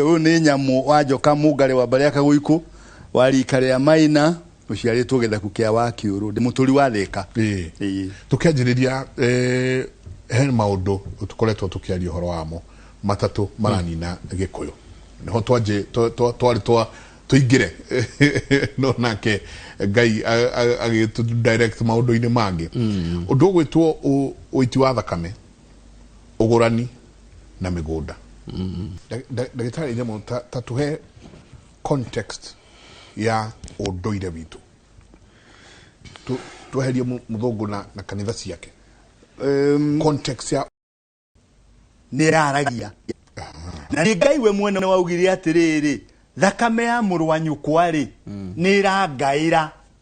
Ũyũ nĩ nyamũ wa njoka mũngarĩ wa mbarĩ ya Kagũikũ wa rika rĩa Maina ũciarĩtwo gĩthaku kĩa wa kĩũrũ ndĩ mũtũri wa thĩka. Ĩĩ. Ĩĩ. Tũkĩanjĩrĩria eh, he maũndũ tũkoretwo tũkĩaria ũhoro wamo matatũ maranina gĩkũyũ nĩho twanjĩ twa- twa- twarĩ twa tũingĩre no nake ngai a- a- agĩtũ direct maũndũ-inĩ mangĩ ũndũ ũgwĩtwo ũ- ũiti wa thakame ũgũrani na mĩgũnda ndagĩtarĩ nyamũ ta, ta tuhe context ya ũndũire witũ Tu- tweherie mũ- mũthũngũ na, na kanitha ciake um, context ya nä raragia na nä ngai we mwene nä waugire atä rä rä thakame ya må rå wa nyå kwa rä nä rangaä ra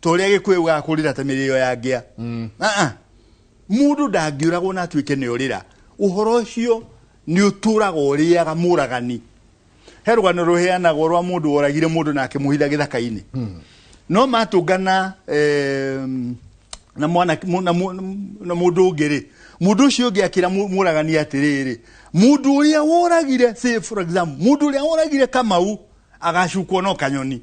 ta ũrĩa gĩkũyũ gũgaga kũrĩra ta mĩrĩo ya ngĩa mm. ah, ah. mũndũ ndangĩũragwo na atuĩke nĩ ũrĩra ũhoro ũcio nĩ ũtũraga ũrĩaga mũragani he rũgano rũheanagwo rwa mũndũ woragire mũndũ na akĩmũhitha gĩthaka-inĩ hmm. no matũngana na mwana na mũndũ ũngĩ rĩ mundu ucio ungi akira muragani atiriri mundu uria woragire say for example mundu uria woragire kamau agacukwo no kanyoni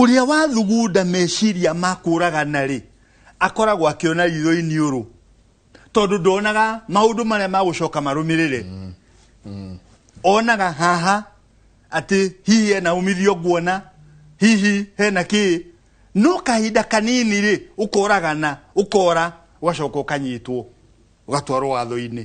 Ũrĩa wathugunda meciria ma kũũragana-rĩ, akoragwo akĩona ritho iniũrũ, tondũ ndonaga maũndũ marĩa magũcoka marũmĩrĩre. Onaga haha atĩ hihi hena umithio nguona, hihi hena kĩĩ, no kahinda kanini-rĩ, ũkoragana, ũkora, ũgacoka ũkanyitwo, ũgatwarwo watho-inĩ.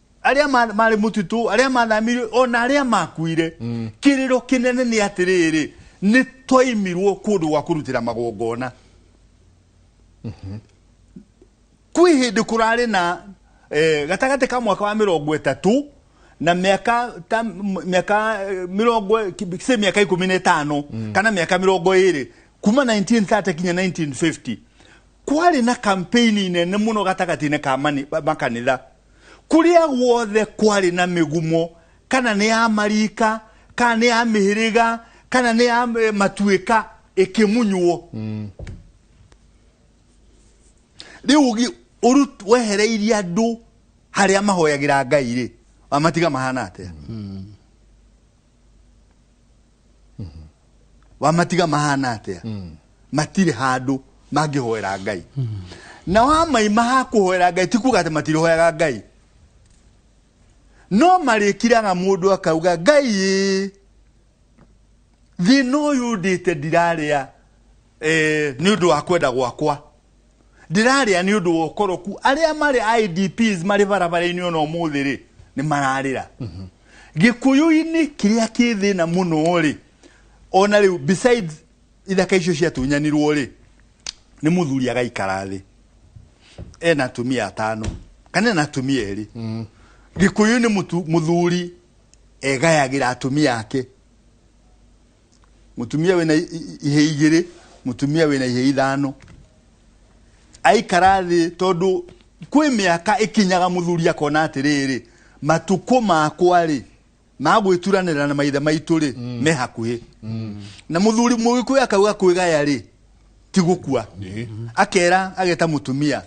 arĩa ma- marĩ mũtitũ arĩa mathamirio ona arĩa makuire kĩrĩro kĩnene nĩ atĩrĩrĩ nĩ twaimirwo kũndũ gwa kũrutĩra magongona kwĩ hĩndĩ kũrarĩ na eh, gatagatĩ ka mwaka wa mĩrongo ĩtatũ na mĩaka ta m- mĩaka eh, mĩrongo ki- sĩ mĩaka ikũmi na ĩtano kana mĩaka mĩrongo ĩrĩ kuma 1930 kinya 1950 kwarĩ na kampeni nene mũno gatagatĩ-inĩ ka mani- makanitha Kũrĩa guothe kwarĩ na mĩgumo, kana nĩ ya marika, kana nĩ ya mĩhĩrĩga, kana nĩ ya eh, matuĩka, ĩkĩmunywo. Rĩu ũgi- ũru- wehereirie andũ harĩa mahoyagĩra Ngai-rĩ, wamatiga mahana atĩa? wamatiga mahana atia matirĩ handũ mangĩhoera ngai na wamaima ha kũhoera ngai ti kuga atĩ matirĩhoyaga ngai no marĩkiraga mũndũ akauga ngai ĩ thĩna ũyũ ndĩte ndirarĩa eh, nĩ ũndũ wa kwenda gwakwa ndĩrarĩa nĩ ũndũ wa ũkoroku arĩa marĩ idps marĩ barabara-inĩ ona ũmũthĩ rĩ nĩ mararĩra gĩkũyũ-inĩ kĩrĩa kĩ thĩna mũno rĩ ona rĩu besides ithaka icio ciatunyanirwo rĩ nĩ mũthuri agaikara thĩ ena atumia atano kana ena atumia erĩ gĩkũyũ-inĩ mũtu- mũthuri egayagĩra atumia ake mutumia wina ihe igiri mutumia wina ihe ithano aikara thi tondu kwi miaka ikinyaga muthuri akona atiriri matuko makwa ri magwituranira na maithe maitu ri mm. me hakuhi mm. na muthuri mugikuyu akauga kwigaya ri ti gukua akera ageta mutumia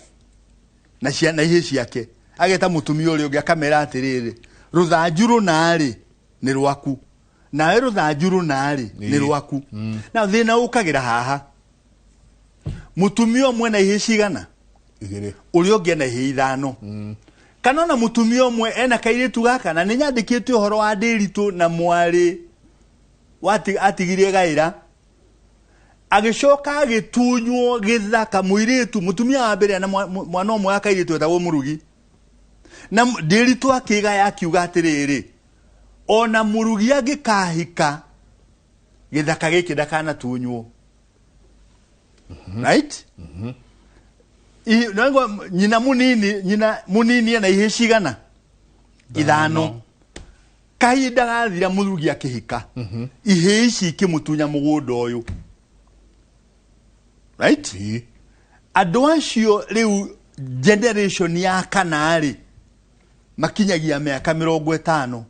na cia na ihe ciake ageta mutumia uri ungi akamera atiriri ruthanju runa ri ni rwaku nawe rũthanju rũna-rĩ nĩ rwaku mm. na thĩna ũkagĩra haha mũtumia ũmwe na ihĩ cigana ũrĩa ũngĩ ena ihĩ ithano mm. kana ona mũtumia ũmwe ena kairĩtu gaka na nĩ nyandĩkĩte ũhoro wa ndĩritũ na mwarĩ atigire gaĩra agĩcoka agĩtunywo gĩthaka mũirĩtu mũtumia wa mbere na mwana ũmwe wa kairĩtu etagwo mũrugi na ndĩritũ akĩgaya akiuga atĩrĩrĩ Ona mũrugi angĩkahika gĩthaka gĩkĩ ndakanatunywo right I- na ngo- nyina munini nyina munini ena ihĩ cigana ithano kahinda gathira mũrugi akĩhika ihĩ ici ikĩmũtunya mũgũnda ũyũ right andå acio rä u generation ya kana rä makinyagia mĩaka mĩrongo ĩtano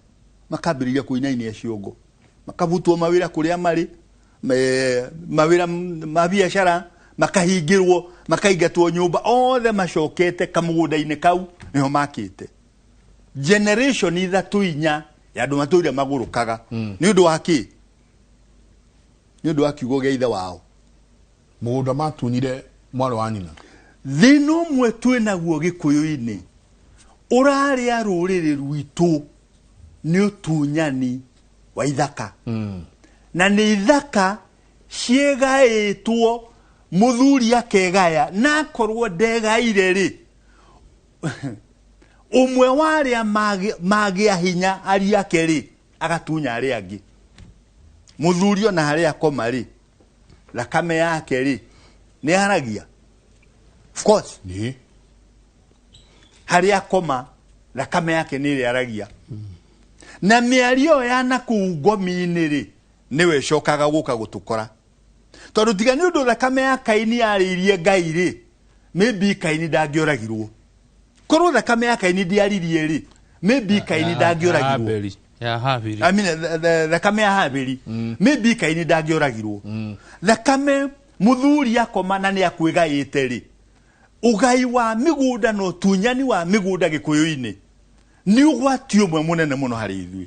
makambĩrĩria kũinaina ciongo makabutwo mawĩra kũrĩa marĩ mawĩra ma biacara makahingĩrwo makaingatwo nyũmba othe macokete kamũgũnda-inĩ kau nĩho makĩte generation ithatũ inya ya andũ matũire magũrũkaga hmm. nĩ ũndũ wa kĩ nĩ ũndũ wa kiugo gĩa ithe wao Mũgũnda matunyire mwarĩ wa nyina. Thĩna ũmwe twĩ naguo Gĩkũyũ-inĩ ũrarĩa rũrĩrĩ rwitũ nĩ ũtunyani wa ithaka. Na nĩ ithaka ciĩgaĩtwo, mũthuri akegaya, na akorwo ndegaire rĩ, ũmwe wa arĩa magĩ- magĩa hinya ariũ ake rĩ, agatunya arĩa angĩ. Mũthuri ona harĩa akoma rĩ, thakame yake rĩ nĩ yaragia of course nĩ harĩa akoma thakame yake nĩ ĩrĩa yaragia na mĩario ĩyo ya nakũu ngomi-inĩ rĩ nĩwe ĩcokaga gũka gũtũkora tondũ tiga nĩ ũndũ thakame ya kaini yarĩirie ngai rĩ maybe kaini ndangĩoragirwo korwo thakame ya kaini ndiaririe rĩ maybe kaini ndangĩoragirwo ya habiri I mean, th- th- thakame ya habiri maybe kaini ndangĩoragirwo thakame mũthuri akoma na nĩ akwĩgaĩte rĩ ũgai wa mĩgũnda na ũtunyani wa mĩgũnda gĩkũyũ-inĩ nĩ ũgwati ũmwe mũnene mũno harĩ ithuĩ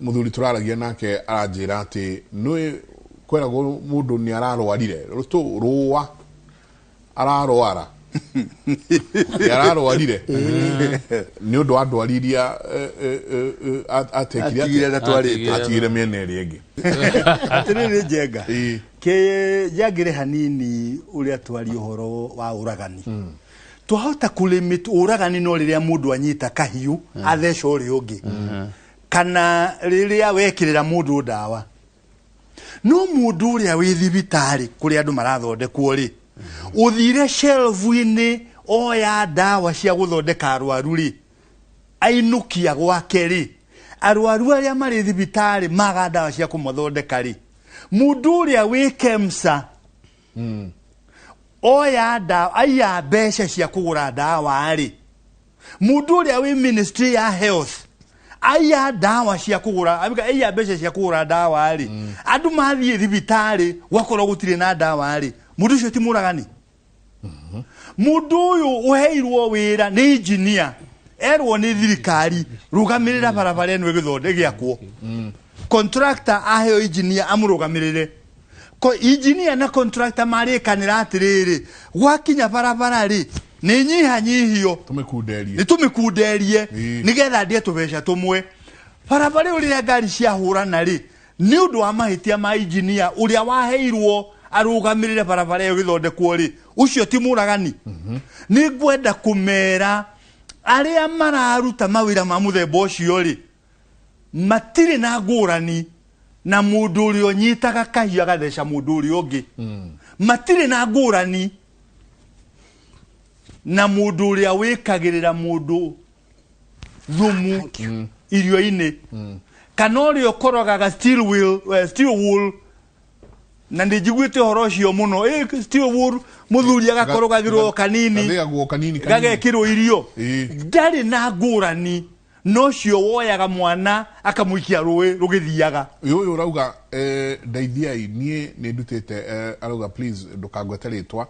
muthuri turaragia nake aranjira ati nui kweragwo mundu ni ararwarire tu ruwa ararwara ni ararwarire ni undu wa ndwari iria eh, eh, eh, eh, at- atekire atigire na atia- twarite atigire miena iri ingi atiriri njenga Ĩĩ. kä njangä re hanini å rä a twari å horo wa å ragani twahota kũlimit ũragani no rĩrĩa mũndũ anyita kahiũ mm. atheca ũrĩa ũngĩ mm-hmm. kana rĩrĩa wekĩrĩra mũndũ ndawa no mũndũ ũrĩa wĩ thibitarĩ kũrĩa andũ marathondekwo rĩ mm-hmm. ũthire shelvu-inĩ oya ndawa cia gũthondeka arwaru rĩ ainukia gwake rĩ arwaru arĩa marĩ thibitarĩ maga ndawa cia kũmathondeka rĩ mundu uria wi kemsa mm. oya ndawa aiya mbeca cia kũgũra ndawa rĩ mũndũ ũrĩa wĩ ministry ya health aiya ndawa cia kũgũra aiya mbeca cia kũgũra ndawa rĩ mm. andũ mathiĩ thibitarĩ gwakorwo gũtirĩ na ndawa rĩ mũndũ ũcio ti mũragani mm-hmm. mũndũ ũyũ ũheirwo wĩra nĩ injinia erwo nĩ thirikari rũgamĩrĩra barabara ĩno ĩgĩthonde gĩakwo mm. contractor aheo injinia amũrũgamĩrĩre Ko- injinia na contractor marĩkanĩra atĩrĩrĩ gwakinya barabara rĩ nĩ nyihanyihio tũmĩkunderie nĩ tũmĩkunderie Ĩĩ. nĩgetha ndie tũbeca tũmwe barabara ĩyo rĩrĩa ngari ciahũrana rĩ nĩ ũndũ wa mahĩtia ma injinia ũrĩa waheirwo arũgamĩrĩre barabara ĩyo gĩthondekwo rĩ ũcio ti mũragani nĩ ngwenda kũmera arĩa mararuta mawĩra ma mũthemba ũcio rĩ matirĩ na ngũrani na mũndũ ũrĩa ũnyitaga kahiũ agatheca mũndũ ũrĩa ũngĩ hmm. matirĩ na ngũrani na mũndũ ũrĩa wĩkagĩrĩra mũndũ thumu hmm. irio-inĩ hmm. kana ũrĩa ũkorogaga steel wheel, uh, steel wool na nä njiguä te å horo å cio må no må thuri agakorogagä rwo kanini gagäkä rwo irio ndarä na ngå rani no cio woyaga mwana akamuikia rũĩ rũgĩthiaga uyu uyu urauga eh, ndeithiai nie ni ndutite eh, arauga please ndukangwete ritwa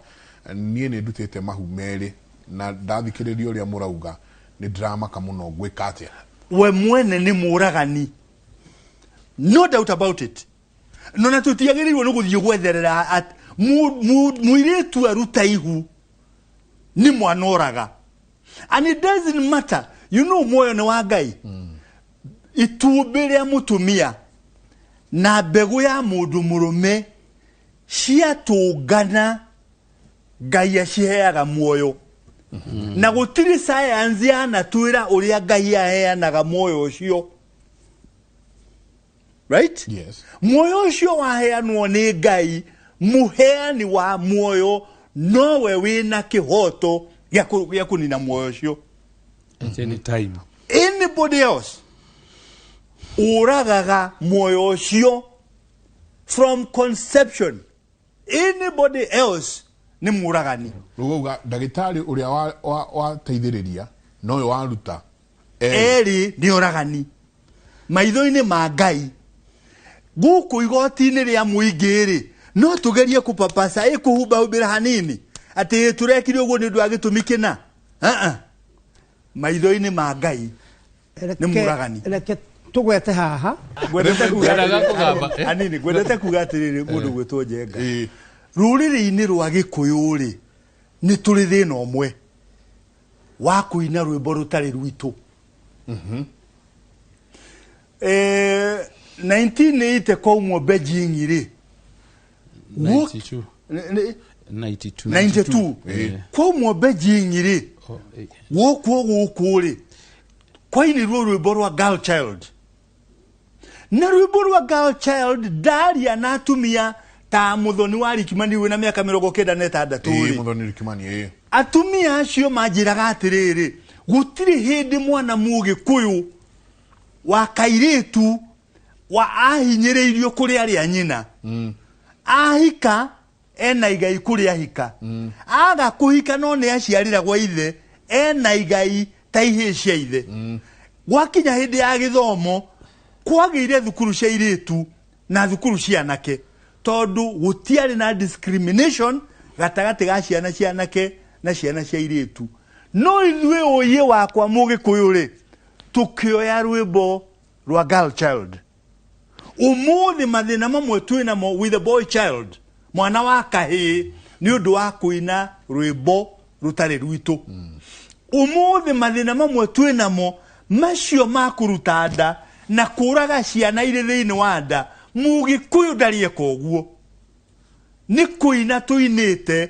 nie ni ndutite mahu meri na ndathikiriria uria murauga ni ndiramaka muno ngwika atia we mwene nĩ mũragani no doubt about it no na tũtiagĩrĩirwo nĩ gũthiĩ gwetherera at- mu- mu- mũirĩtu aruta ihu nĩ mwana oraga and it doesn't matter you know muoyo ni wa ngai itumbĩ rĩa mũtumia na mbegũ ya mũndũ mũrũme ciatũngana ngai aciheaga muoyo na gũtirĩ sayansi yanatwĩra ũrĩa ngai aheanaga muoyo ũcio right yes muoyo ucio waheanwo ni ngai muheani wa muoyo nowe wina kihoto gĩa kũ- gĩa kunina muoyo ucio at any time anybody else uragaga muoyo ucio from conception anybody else nä må ragani rugauga ndagĩtarĩ ũrĩa wateithĩrĩria noyo waruta erĩ nĩ oragani maitho-inĩ ma ngai gũkũ igoti-inĩ rĩa mũingĩ rĩ no tũgerie kũpapaca ĩ kũhumbahumbĩra hanini atĩ tũrekire ũguo nĩ ũndũ wa gĩtũmi kĩna maitho-inĩ ma ngai nĩ mũragani reke tũgwete haha ngwendete Rĩmwe kuga ndaraga atĩrĩrĩ- kũgamba, eh? anini ngwendete kuga atĩrĩrĩ mũndũ gwĩtwo njenga Ĩĩ. rũrĩrĩ-inĩ rwa gĩkũyũ rĩ nĩ tũrĩ thĩna ũmwe wa kũina rwĩmbo rũtarĩ rwitũ Eh, 1980 kwaumwo Beijing rĩ Wo- 92 ne- ne- 92 92 Eh. ko mɔ bɛ jinyiri Oh, eh. wo ko wo kore kwaini ro ro borwa girl child na ro borwa girl child daria na atumia ta muthoni wa rikimani wina miaka mirongo kenda na itandatu Eh, ri muthoni rikimani eh. atumia acio manjĩraga atĩrĩrĩ gũtirĩ hĩndĩ mwana mũgĩkũyũ wa kairĩtu wa ahinyĩrĩirio kũrĩ arĩ a nyina mm. ahika ena igai kũrĩ ahika mm. aga kũhika no nĩ aciarĩra gwa ithe ena igai ta ihĩĩ cia ithe mm. gwakinya hĩndĩ ya gĩthomo kwagĩire thukuru cia irĩtu na thukuru cia anake tondũ gũtiarĩ na discrimination gatagatĩ ga ciana cia anake na ciana cia irĩtu no ithuĩ ũyĩ wakwa mũgĩkũyũ rĩ tũkĩoya rwĩmbo lwa girl child umuthi mathina mamwe twĩ namo with a boy child mwana wa kahĩĩ nĩ ũndũ wa kũina rwĩmbo rũtarĩ rwitũ umuthi mathina mamwe twĩ namo macio ma kũruta nda na kũraga ciana irĩ thĩinĩ wa nda mũgĩkũyũ ndarieka ũguo nĩ kũina tũinĩte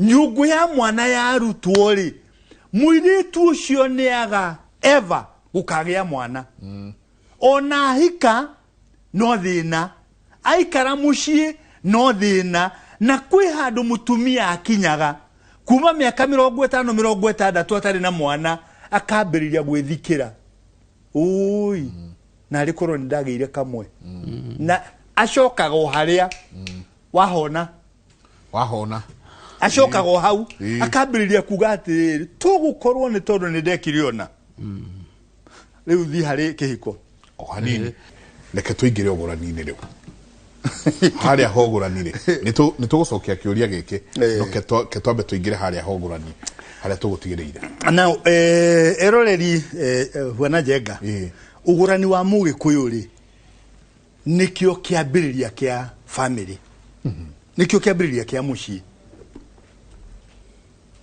nyũngũ ya mwana yarutwo rĩ mũirĩtu ũcio nĩaga eva gũkagĩa mwana mm. ona ahika no thĩna aikara mũciĩ no thĩna na kwĩ handũ mũtumia akinyaga kuma mĩaka mĩrongo ĩtano mĩrongo ĩtandatũ atarĩ na mwana akambĩrĩria gwĩthikĩra ũi mm. na arĩ korwo nĩ ndagĩire kamwe mm. na acokaga o harĩa mm. wahona wahona acokaga o hau Ĩĩ. akambĩrĩria kuga atĩrĩrĩ tũgũkorwo nĩ tondũ nĩ ndekire ona rĩu thiĩ harĩ kĩhiko o hanini reke tũingĩre ũgũrani-inĩ rĩu harĩa ha ũgũrani-rĩ nĩtũ- nĩtũgũcokia kĩũria gĩkĩ Ĩĩ. no ke twa- ke twambe tũingĩre harĩa ha ũgũrani harĩa tũgũtigĩrĩire na eh, eroreri eh, eh, huana njenga Ĩĩ. ũgũrani wa mũgĩkũyũ rĩ nĩkĩo kĩambĩrĩria kĩa family nĩkĩo kĩambĩrĩria kĩa mũciĩ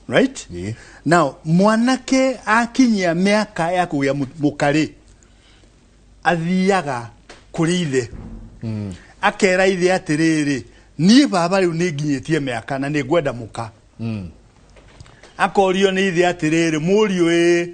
right Ĩĩ. now mwanake akinyia mĩaka ya kũgĩa mũ- mũkarĩ athiaga kũrĩ ithe akera ithe atĩrĩrĩ niĩ baba rĩu nĩ nginyĩtie mĩaka na nĩ ngwenda mũka akorio nĩ ithe atĩrĩrĩ mũriũ ĩ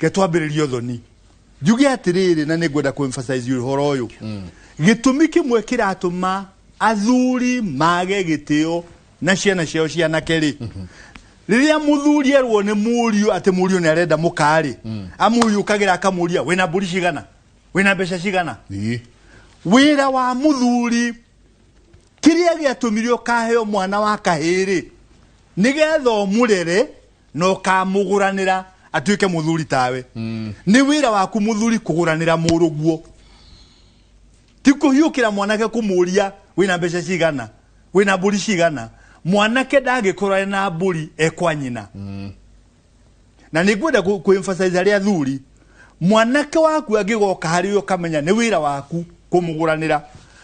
Reke twambĩrĩrie ũthoni njuge atĩrĩrĩ na nĩ ngwenda kũemphasize ũhoro ũyũ mm. gĩtũmi kĩmwe kĩratũma athuri mage gĩtĩo na ciana ciao cianake rĩ mm -hmm riria muthuri erwo ni muriu ati muriu ni arenda mukari mm. amuyukagira akamuria wina mburi cigana wina mbeca cigana wira wa muthuri kiria giatumire ukaheo mwana wa kahiri nigetha omurere na ũkamũgũranĩra atuĩke mũthuri tawe mm. nĩ wĩra waku mũthuri kũgũranĩra mũrũguo ti kũhiũkĩra mwanake kũmũria wĩna mbeca cigana wĩna mbũri cigana mwanake ndangĩkorwo na mbũri ekwa nyina mm. na nĩ ngwenda kũemphasize arĩa athuri mwanake waku angĩgoka harĩ we ũkamenya nĩ wĩra waku kũmũgũranĩra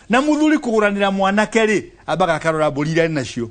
na mũthuri kũgũranĩra mwanake rĩ ambaga akarora mbũri iria nacio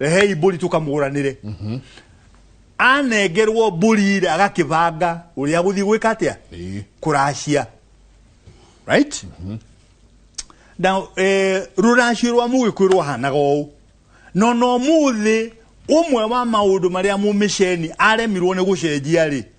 rehei mbũri tũkamũranĩre mhm. anengerwo mbũri rĩ agakĩbanga ũrĩa gũthiĩ gwĩka atĩa kũracia right mhm. na eh, rũracio rwa mũgĩkũyũ rwahanaga ũũ no no mũthĩ ũmwe wa maũndũ marĩa mũmĩceni aremirwo nĩ gũcenjia rĩ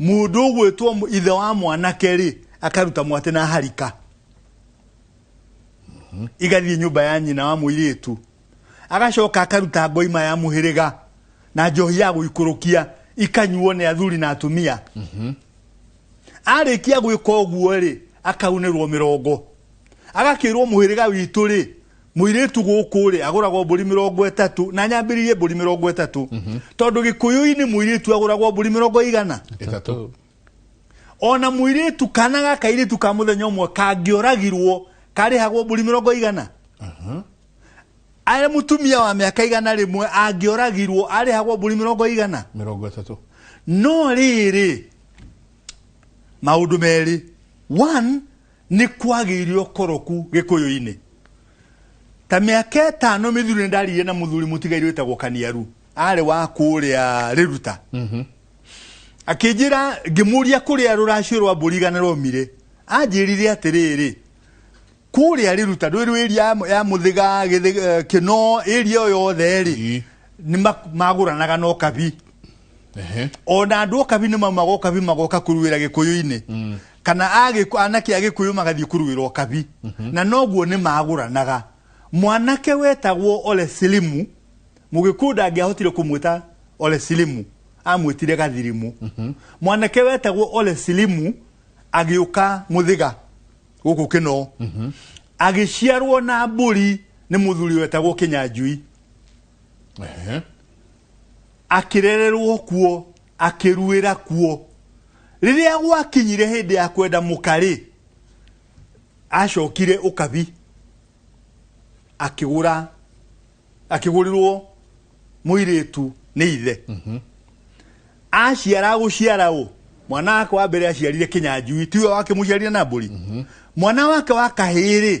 Mũndũ ũgwĩtwo mũ- ithe wa mwanake rĩ akaruta mwatĩ na harika igathiĩ nyũmba ya nyina wa mũirĩtu agacoka akaruta ngoima ya mũhĩrĩga na njohi ya gũikũrũkia ikanyuo nĩ athuri na atumia arĩkia gwĩka ũguo rĩ akaunĩrwo mĩrongo agakĩrwo mũhĩrĩga witũ rĩ Mũirĩtu gũkũ rĩ agũragwo mbũri mĩrongo ĩtatũ na nyambĩrĩirie mbũri mĩrongo ĩtatũ mhm. tondũ gĩkũyũ-inĩ mũirĩtu agũragwo mbũri mĩrongo igana ĩtatũ ona mũirĩtu kana gaka iritu ka muthenya ũmwe kangĩoragirwo karĩhagwo mbũri mĩrongo igana mhm. arĩ mutumia wa mĩaka igana rĩmwe angĩoragirwo arĩhagwo mbũri mĩrongo igana mĩrongo ĩtatũ no rĩrĩ maũndũ merĩ one nĩ kwagĩire ũkoroku gĩkũyũ-inĩ ta mĩaka ĩtano mĩthiru nĩ ndarire na mũthuri mũtigairĩ wĩtagwo kaniaru arĩ wa kũrĩa rĩruta mhm. akĩnjĩra ngĩmũria kũrĩa rũracio rwa mbũri igana romire anjĩrire atĩrĩrĩ kũrĩa rĩruta rwĩ rwĩria ya mũthiga eh, kĩno ĩria o yothe rĩ nĩ magũranaga na ũkabi ona andå å kabi nä maumaga å kabi magoka kå ruä ra gä kå yå-inä mm. kana agĩkũ- anake a gĩkũyũ magathiĩ kũruĩrwo kabi na noguo nĩ magũranaga mwanake wetagwo ole silimu mũgĩkũyũ ndangĩahotire kũmwĩta ole silimu amwĩtire gathirimũ mwanake wetagwo ole silimu agĩũka mũthĩga gũkũ kĩno agĩciarwo na mbũri nĩ mũthuri wetagwo kĩnyanjui Ehe. akĩrererwo kuo akĩruĩra kuo rĩrĩa gwakinyire hĩndĩ ya kwenda mũkarĩ acokire ũkabi akĩgũra akĩgũrĩrwo mũirĩtu nĩ ithe mhm. aciara gũciara ũ mwana wake wa mbere aciarire kĩnyanjui tiwe wake mũciarire na mbũri mhm. mwana wake wa kahĩrĩ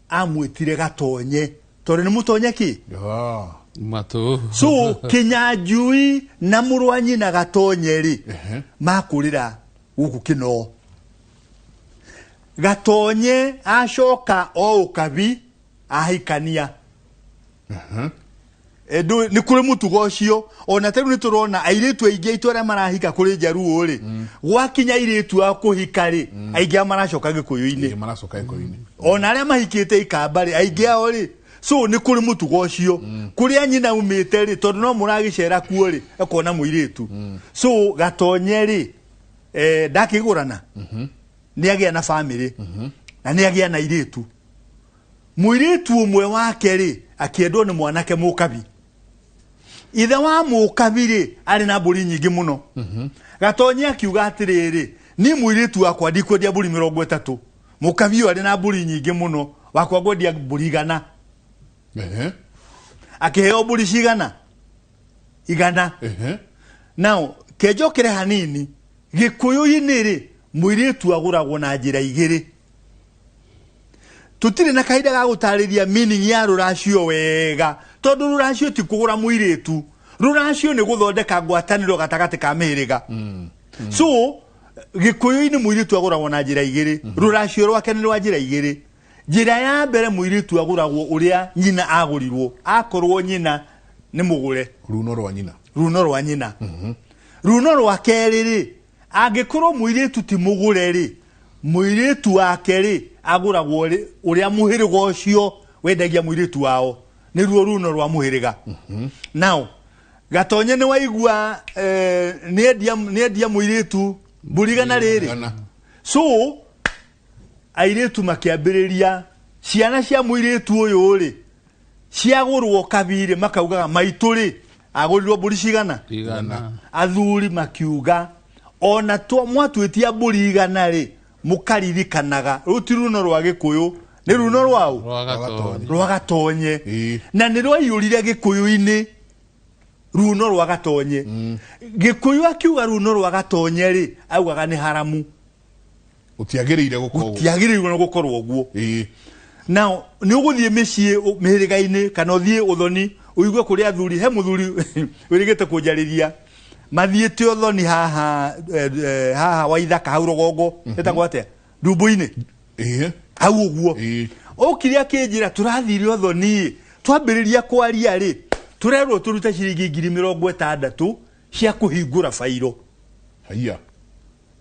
amwĩtire gatonye tondũ nĩ mũtonye kĩ Ah, matũ so kĩnyanjui na mũrũ wa nyina gatonye rĩ Ehe. makũrĩra gũkũ kĩnoo gatonye acoka o ũkabi ahikania Eh, ndũ- nĩ kũrĩ mũtugo ũcio ona tarĩu nĩ tũrona airĩtu aingĩ aitũ arĩa marahika kũrĩ njaruo rĩ gwakinya airĩtu a kũhika rĩ aingĩ ao maracoka gĩkũyũ-inĩ maracoka ikoinĩ ona arĩa mahikĩte ikamba rĩ aingĩ ao rĩ so nĩ kũrĩ mũtugo ũcio kũrĩa nyina umĩte rĩ tondũ no mũragĩcera kuo rĩ ekona mũirĩtu so gatonye rĩ eh, ndakĩgũrana nĩ agĩa na bamĩrĩ na nĩ agĩa na irĩtu Mũirĩtu ũmwe wake-rĩ, akĩendwo nĩ mwanake mũkabi. Ithe wa mũkabi-rĩ, arĩ na mbũri nyingĩ mũno. Mhm. Gatonyi akiuga atĩrĩrĩ, niĩ mũirĩtu wakwa ndikwendia mbũri mĩrongo ĩtatũ. Mũkabi ũyũ arĩ na mbũri nyingĩ mũno, wakwa ngwendia mbũri igana. Akĩheo mbũri cigana? Igana. Nao, kenjokere hanini, gĩkũyũ-inĩ-rĩ, mũirĩtu agũragwo na njĩra igĩrĩ. tũtirĩ na kahinda ga gũtarĩria meaning ya rũracio wega tondũ rũracio ti kũgũra mũirĩtu rũracio nĩ gũthondeka ngwatanĩro gatagatĩ ka mĩhĩrĩga mm. Mm. so gĩkũyũ-inĩ mũirĩtu agũragwo na njĩra igĩrĩ mm -hmm. rũracio rwake nĩ rwa njĩra igĩrĩ njĩra ya mbere mũirĩtu agũragwo ũrĩa nyina agũrirwo akorwo nyina nĩ mũgũre runo rwa nyina runo rwa nyina mm -hmm. runo rwa kerĩ rĩ Angĩkorwo mũirĩtu ti mũgũre-rĩ, mũirĩtu wake-rĩ, agũragwo rĩ, ũrĩa mũhĩrĩga ũcio wendagia mũirĩtu wao, nĩruo runo rwa mũhĩrĩga. Mhm. Nao, gatonye nĩ waigua eh, nĩendia nĩendia mũirĩtu mbũrigana rĩrĩ. So, airĩtu makĩambĩrĩria ciana cia mũirĩtu ũyũ rĩ ciagũrwo kabirĩ makaugaga maitũ rĩ agũrirwo mbũri cigana igana athuri makiuga ona twa mwatuĩtia mbũri igana rĩ mũkaririkanaga rũu ti runo rwa gĩkũyũ nĩ runo rwaũ rwa gatonye rwa gatonye Ĩĩ. na nĩ rwaiyũrire gĩkũyũ-inĩ runo rwa gatonye gĩkũyũ akiuga runo rwa gatonye rĩ augaga nĩ haramu gutiagiriire gukorwo gutiagiriire no gukorwo uguo ii now ni uguthie micie mihirigaini kana uthie uthoni uigue kuri athuri he muthuri wirigite kunjariria mathiite uthoni haha eh, eh, haha wa ithaka hau rogongo mhm. etagwo atia ndumbu-ini ii hau uguo ii ukire akinjira turathire uthoni twambiriria kwaria ri turerwo turute ciringi ngiri mirongo itandatu cia kuhingura bairo haiya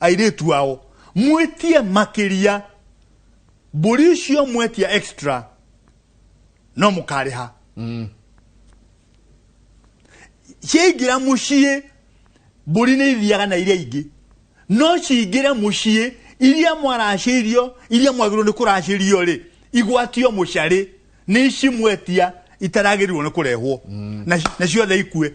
airĩtu ao mwĩtie makĩria mbũri icio mwetia extra no mũkarĩha mm. ciaingĩra mũciĩ mbũri nĩ ithiaga na iria ingĩ no cingĩre mũciĩ iria mwaracĩirio iria mwagĩrĩirwo nĩ kũracĩrio rĩ igwatio mũcarĩ nĩ ici mwetia itaragĩrĩirwo nĩ kũrehwo mm. na, na ciothe ikue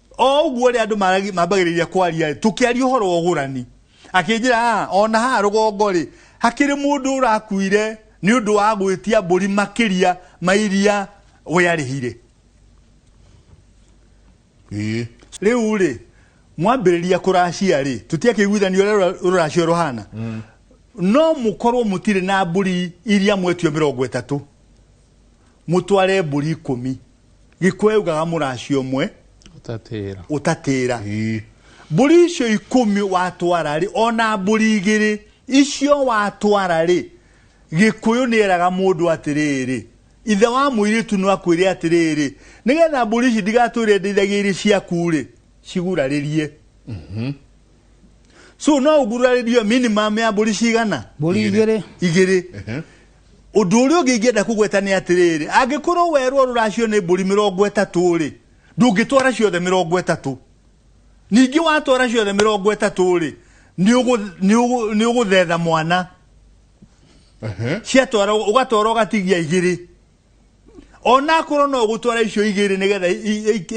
o ũguo rĩ andũ maragi- mambagĩrĩria kwaria tũkĩaria ũhoro wa ũgũrani akĩnjĩra "Ah, ona haha rũgongo rĩ hakĩrĩ mũndũ ũrakuire nĩ ũndũ wa gwĩtia mbũri makĩria ma iria we arĩhire Ĩĩ. rĩu rĩ mwambĩrĩria kũracia rĩ tũtiakĩiguithanio ũrĩa rũra- rũracio rũhana no mũkorwo mũtirĩ na mbũri iria mwetio mĩrongo ĩtatũ mũtware mbũri ikũmi gĩkũyũ yaugaga mũraci ũmwe ũtatĩra ũtatĩra Ii. mbũri icio ikũmi watwara rĩ ona mbũri igĩrĩ icio watwara rĩ gĩkũyũ nĩ eraga mũndũ atĩrĩrĩ ithe wa mũirĩtu no akwĩre atĩrĩrĩ nĩgetha mbũri ici ndigatwĩre ndeithagia irĩ ciaku rĩ cigurarĩrie so no ũgurarĩrio minimum ya mbũri cigana mbũri igĩrĩ igĩrĩ Ũndũ ũrĩa ũngĩ ingĩenda kũgweta nĩ atĩrĩrĩ, angĩkorwo werwo rũracio nĩ mbũri mĩrongo ĩtatũ-rĩ, ndũngĩtwara ciothe mĩrongo ĩtatũ. Ningĩ watwara ciothe mĩrongo ĩtatũ-rĩ, nĩ ũgũthetha mwana. Ciatwara ũgatwara ũgatigia igĩrĩ. Ona akorwo no ũgũtwara icio igĩrĩ nĩgetha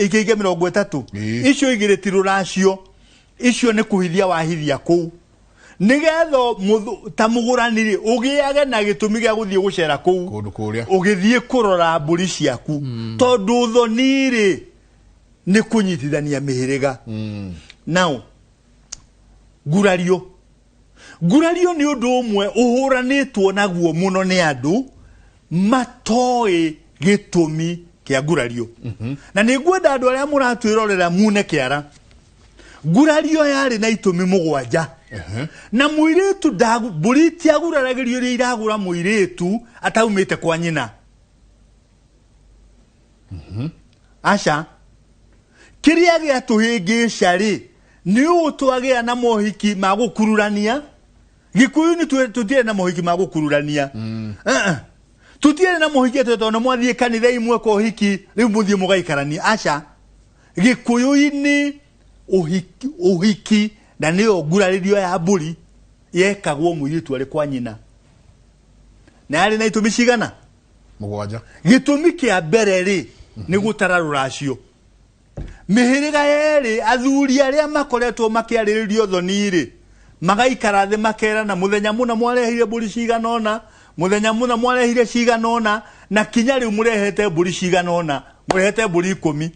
ikĩige mĩrongo ĩtatũ, icio igĩrĩ ti rũracio, icio nĩ kũhithia wahithia kũu. nigetha muthu- ta mugurani rĩ ugiage na gitumi gia guthie gucera kuu kũndũ kũrĩa ugithie kurora mburi ciaku tondu thoni rĩ ni kunyitithania mihiriga now ngurario ngurario nĩ ũndũ ũmwe ũhũranĩtwo naguo mũno nĩ andũ matoĩ gĩtũmi kĩa ngurario na nĩ ngwenda andũ arĩa mũratwĩrorera mune kĩara ngurario yarĩ na itũmi mũgwanja na mũirĩtu ndagu- mbũri itiaguraragĩrio iria iragũra mũirĩtu ataumĩte kwa nyina aca kĩrĩa gĩatũhĩngĩca-rĩ nĩ ũũ twagĩa na mohiki ma gũkururania gĩkũyũ nĩ twĩ- tũtiarĩ na mohiki ma gũkururania Uh-uh. tũtiarĩ na mohiki atĩ tondũ mwathiĩ kanitha imwe kwa ũhiki rĩu mũthiĩ mũgaikarania aca gĩkũyũ-inĩ ũhiki, ũhiki na nĩyo ngurarĩrio ya mbũri yekagwo mũirĩtu arĩ kwa nyina na yarĩ na itũmi cigana mũgwanja gĩtũmi kĩa mbere rĩ nĩ gũtara rũracio mĩhĩrĩga yerĩ athuri arĩa makoretwo makĩarĩrĩrio thoni-rĩ magaikara thĩ makerana mũthenya mũna mwareheire mbũri cigana ũna Mũthenya mũna mwarehire cigana ũna, na kinya rĩu mũrehete mbũri cigana ũna, mũrehete mbũri ikũmi.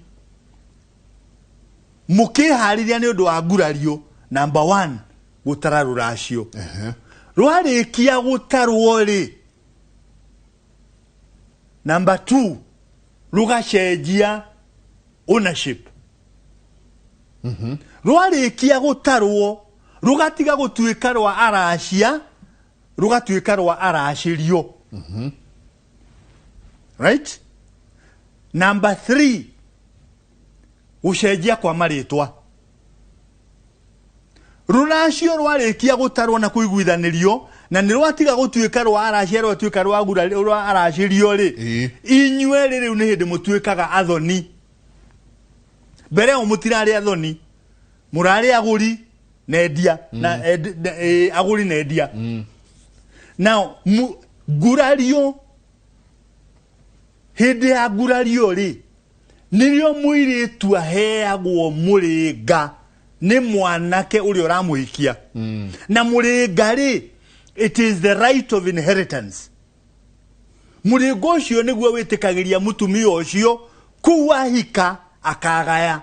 Mũkĩharĩria nĩ ũndũ wa ngurario, number one, gũtara rũracio. Rwarĩkia gũtarwo-rĩ, number two, rũgacenjia ownership. Rwarĩkia gũtarwo, rũgatiga gũtuĩka rwa aracia, rũgatuĩka rwa aracĩrio right number three gũcenjia kwa marĩtwa rũracio rwarĩkia gũtarwo na kũiguithanĩrio na nĩ rwatiga gũtuĩka rwa aracia rwatuĩka rwa gura- rwa aracĩrio rĩ Ĩĩ. inyuĩ rĩ rĩu nĩ hĩndĩ mũtuĩkaga athoni mbere ĩyo mũtirarĩ athoni mũrarĩ agũri na endia na endi- na- eh, agũri na endia now mu- ngurario hĩndĩ ya ngurario rĩ nĩrĩo mũirĩtu aheagwo mũrĩnga nĩ mwanake ũrĩa ũramũhikia na mũrĩnga rĩ it is the right of inheritance mũrĩnga ũcio nĩguo wĩtĩkagĩria mũtumia ũcio kuu ahika akagaya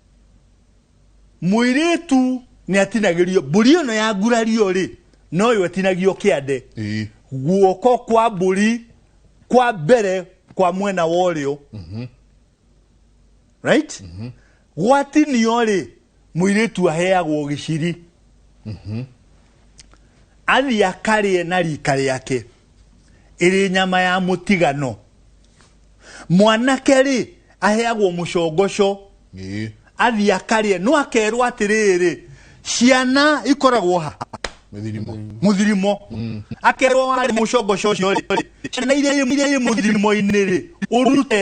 mwiritu ni atinagirio mburi ino ya ngurario ri noyo atinagio kiande Ii. guoko kwa mburi kwa mbere kwa mwena wa ũrĩo right gwatinio rĩ mũirĩtu aheagwo gĩciri athiĩ akarĩe na rika rĩake ĩrĩ nyama ya mũtigano mwanake rĩ aheagwo mũcongoco Ĩĩ. athiĩ akarĩe no akerwo atĩrĩrĩ ciana ikoragwo ha Mĩthirimo. mũthirimo akerwo warĩ mũcongoco ũcio rĩ ciana iria irĩ- irĩa irĩ mũthirimo-inĩ rĩ ũrute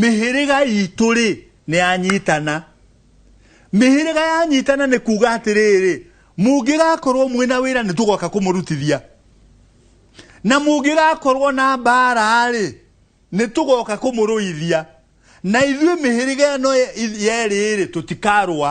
Mĩhĩrĩga itũ-rĩ, nĩyanyitana. Mĩhĩrĩga yanyitana nĩ kuuga atĩrĩrĩ, mũngĩgakorwo mwĩ na wĩra nĩtũgoka kũmũrutithia, na mũngĩgakorwo na mbaara-rĩ, nĩtũgoka kũmũrũithia, na ithuĩ mĩhĩrĩga ĩno yerĩ-rĩ, tũtikarũa.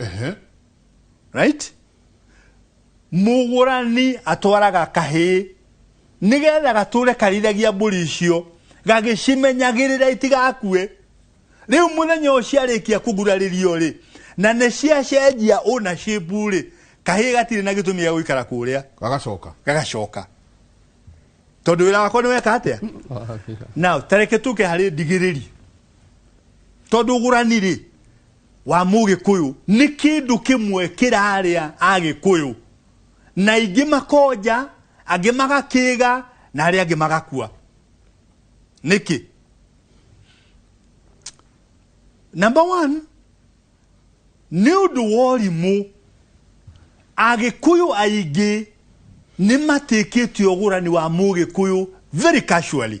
Ehe. right mũgũrani atwaraga kahĩĩ nĩgetha gatũre karithagia mbũri icio gagĩcimenyagĩrĩra itigakue rĩu mũthenya ũyũ ciarĩkia kũgurarĩrio rĩ na nĩ ciacenjia ũna shape rĩ kahĩĩ gatirĩ na gĩtũmi gĩa gũikara kũrĩa Gagacoka. gagacoka tondũ wĩra wakwa nĩ weka atĩa na tareke tũke harĩ ndigĩrĩri tondũ ũgũrani rĩ wa Mũgĩkũyũ. Nĩ kĩndũ kĩmwe kĩrarĩa Agĩkũyũ. Na aingĩ makonja, angĩ magakĩĩga, na arĩa angĩ magakua. Nĩkĩ? Number one, nĩ ũndũ wa ũrimũ. Agĩkũyũ aingĩ nĩ matĩkĩtie ũgũrani wa Mũgĩkũyũ very casually.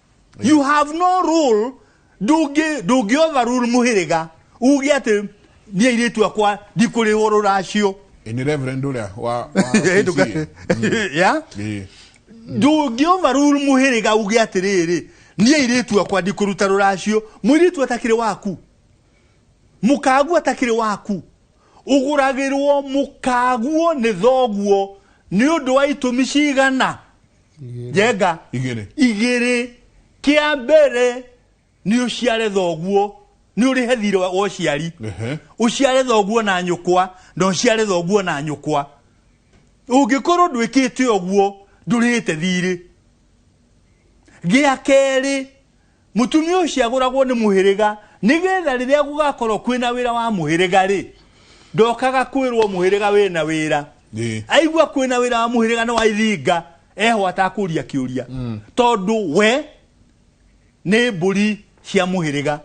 you have no rule ndũngĩ ndũngĩ overrule mũhĩrĩga uge atĩ niĩ airĩtu akwa ndikũrĩhwo rũracio Eh, ni reverend uria wa wa Hĩtũka- PCA. Yeah? Eh, ndũngĩ overrule mũhĩrĩga uge atĩrĩrĩ niĩ airĩtu akwa ndikũruta rũracio mũirĩtu atakĩrĩ waku mũkaguo atakĩrĩ waku ũgũragĩrwo mũkaguo nĩ thoguo nĩ ũndũ wa itũmi cigana njenga igere igere kia mbere ni uciare thoguo ni urihe thirĩ wa uciari Ehe. uciare thoguo na nyukwa na uciare thoguo na nyukwa ungikorwo ndwikite uguo ndurihite thirĩ gia keri Mũtumia ũcio agũragwo nĩ mũhĩrĩga nĩgetha rĩrĩa gũgakorwo kwĩna wĩra wa mũhĩrĩga rĩ ndokaga kwĩrwo mũhĩrĩga wĩna wĩra Ĩĩ. aigua kwĩna wĩra wa mũhĩrĩga no aithinga eho atakũria kĩũria mm. tondũ we nĩ mbũri cia mũhĩrĩga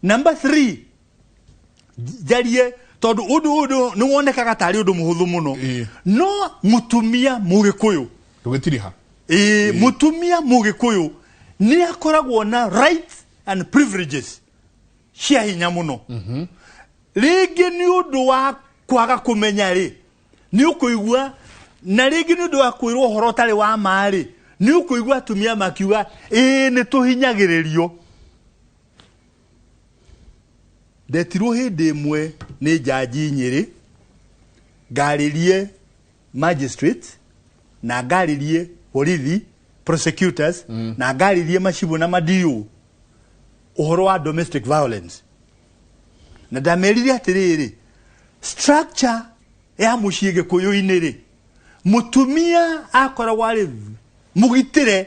namba 3 njarie tondu undu undu ni wonekaga tari undu muhuthu muno Ĩĩ. no mutumia mugikuyu ndũgĩtirĩ ha ĩĩ mutumia mugikuyu ni akoragwo na rights and privileges cia hinya muno rĩngĩ nĩ ũndũ wa kwaga kũmenya rĩ nĩ ũkũigua na rĩngĩ nĩ ũndũ wa kwĩrwo ũhoro ũtarĩ wa ma rĩ nĩ ũkũigua atumia makiuga ĩĩ nĩ tũhinyagĩrĩrio Ndetirwo hĩndĩ ĩmwe nĩ njanji Nyĩrĩ, ngarĩrie magistrate, na ngarĩrie borithi, prosecutors, mm. na ngarĩrie macibũ na madiũ ũhoro wa domestic violence. Na ndamerire atĩrĩrĩ, structure ya mũciĩ gĩkũyũ-inĩ rĩ, mũtumia akoragwo arĩ mũgitĩre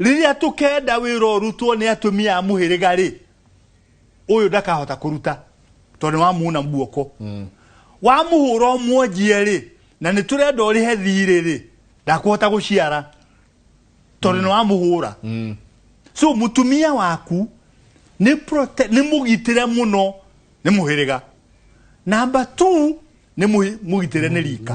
rĩrĩa tũkenda wĩra ũrutwo nĩ atumia a mũhĩrĩga rĩ ũyũ ndakahota kũruta tondũ wamuuna guoko mm. wamuhũra ũmwonjie rĩ na nĩ tũrenda ũrĩhe thirĩ rĩ ndakũhota gũciara tondũ nĩ wamuhũra mm. so mũtumia waku nĩ nĩ mũgitĩre mũno nĩ mũhĩrĩga namba 2 nĩ mũgitĩre nĩ rika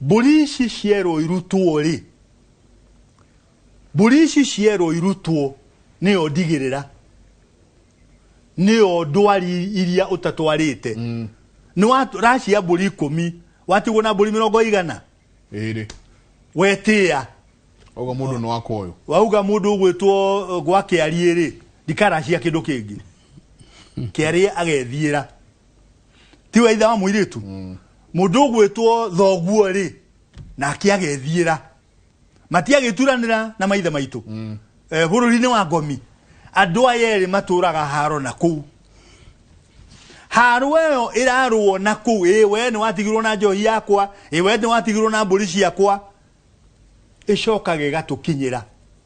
Mbũri ici cierwo irutwo-rĩ, mbũri ici cierwo irutwo nĩyo ndigĩrĩra, nĩyo ndwari iria ũtatwarĩte. Mm. Nĩ wa racia mbũri ikũmi, watigwo na mbũri mĩrongo igana? Ĩrĩ. Wetĩa. Wauga mũndũ nĩ wakwa ũyũ. Wauga mũndũ ũgwĩtwo uh, gwa kĩari-rĩ, ndikaracia kĩndũ kĩngĩ. Kĩari agethiĩra. tiwe ithe wa muiritu mm. mundu ugwitwo thoguo ri nake agethiira matiagituranira na maithe maitu mm. eh, bururi-ini wa ngomi andu aya eri maturaga haro na kuu haru eyo irarwo na kuu ĩ we nĩ watigirwo na njohi yakwa ĩ we nĩ watigirwo na mbũri ciakwa ĩcokaga ĩgatũkinyĩra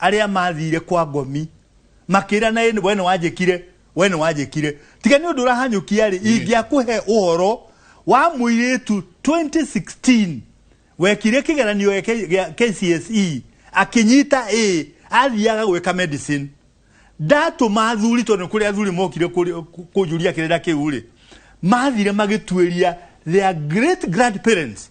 arĩa mathiire kwa ngomi makĩra na ĩnĩ we nĩ wanjĩkire we nĩ wanjĩkire tiga nĩ ũndũ ũrahanyũkia rĩ ingĩakũhe ũhoro wa mũirĩtu 2016 wekire kĩgeranio gĩa K- gĩa KCSE akĩnyita A athiaga gwĩka medicine ndatũma athuri tondũ nĩ kũrĩ athuri mokire kũrĩ- kũ- kũnjũria kĩrĩra kĩu rĩ mathire magĩtuĩria their great grandparents